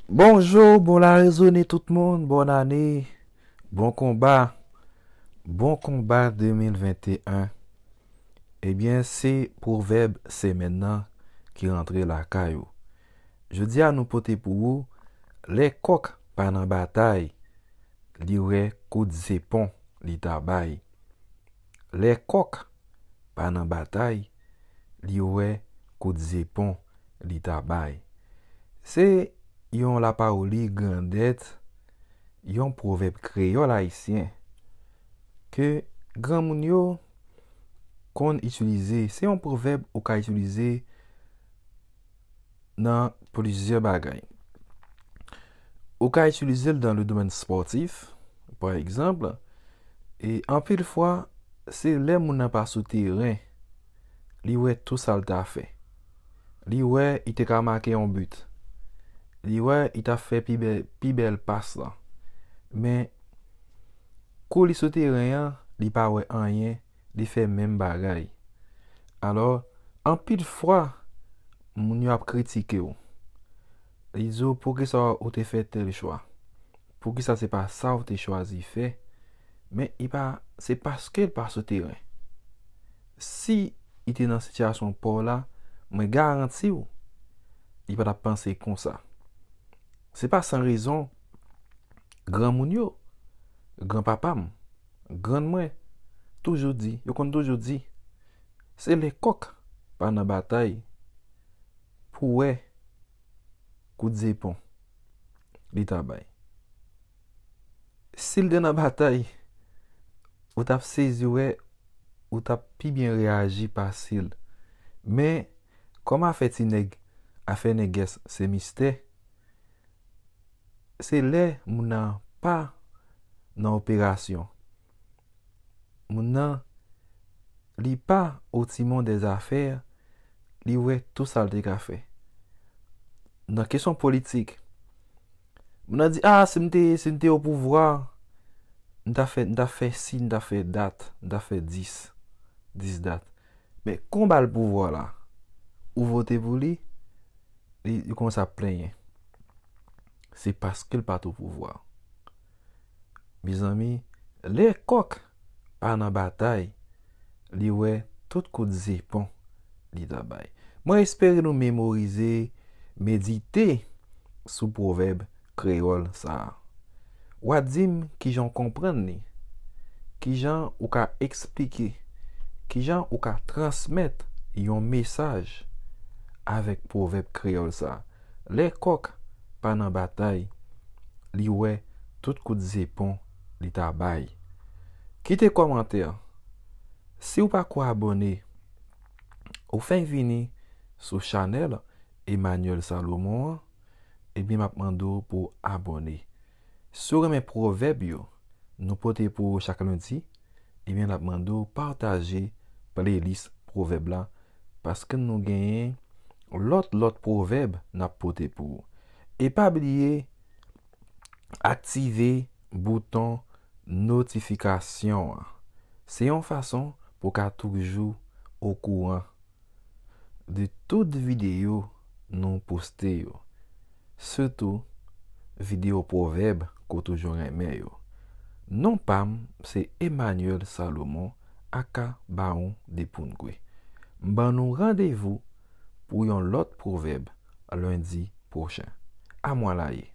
Bonjour bon la rezone tout moun bon ane bon konba bon konba 2021 ebyen se pwovèb semèn nan ki rantre lakay ou jodi a nou pote pou ou lè kòk pa nan batay li wè kout zepon li ta bay. Lè kòk pa nan batay li wè kout zepon li ta bay Se yon lapawoli grandèt, yon pwovèb kreyòl ayisyen ke granmoun yo konn itilize. Se yon pwovèb ou ka itilize. nan plizyè bagay. Ou ka itilize l nan le domèn spòtif, pa egzanp, e anpil fwa se lè moun nan pa sou teren li wè tou sa l ta fè. Li wè li te ka make yon but. Li wè li ta fè pi bèl pas lan. Men, kou li sou teren an, li pa wè anyen. li fè menm bagay. Alò, anpil fwa, moun yo ap kritike w. Li di w, poukisa ou te fè tèl chwa? Poukisa se pa sa ou te chwazi fè? Men, li pa, se paske li pa sou teren. Si li te nan sitiyasyon pa w la, mwen garanti w, li pa t ap panse konsa. Se pa san rezon, granmoun yo, granpapa m. Grann mwen toujou di, yo konn toujou di, se lè kòk pa nan batay pou wè kout zepon li ta bay. Si l te nan batay, ou t ap sezi wè, ou t ap pi byen reyaji pase l. Men, kòm afè ti nèg, afè nègès se mistè. Se lè moun nan pa nan operasyon. Moun nan li pa otimon de zafè, li wè tou sa l te ka fè. Nan kesyon politik, moun nan di, a, si m te, si m te o pouvwa, m ta fè, m ta fè si, m ta fè dat, m ta fè dis, dis dat. Men kon bal pouvwa la ou vote pou li li kòmanse ap plenyen se paskel pat ou pouvwa mezanmi lè kòk pa nan batay li wè tout kout zepon li ta bay mwen espere nou memorize medite sou pwovèb Kreyòl sa a. Wa di m kijan w konprann li? Kijan ou ka eksplike? Kijan ou ka transmèt yon mesaj avèk pwovèb kreyòl sa? Lè kòk pa nan batay, li wè tout kout zepon li ta bay. Kite kòmantè. Si w pa ko abòne, ou fenk vini sou chanèl Emmanuel Salomon an. Ebyen map mande w pou w abòne. Si w renmen pwovèb yo nou pote pou ou chak lendi, ebyen nap mande w pataje playlist pwovèb la paske nou genyen lòt lòt pwovèb nap pote pou ou. E pa bliye aktive bouton notifikasyon an. Se yon fason pou w ka toujou okouran de tout videyo nou poste yo, sitou videyo pwovèb ke w toujou renmen yo. Non pa m se Emmanuel Salomon aka Bawon Depoungwe. M ban nou randevou pou yon lòt pwovèb lendi pwochen. Amwalaye!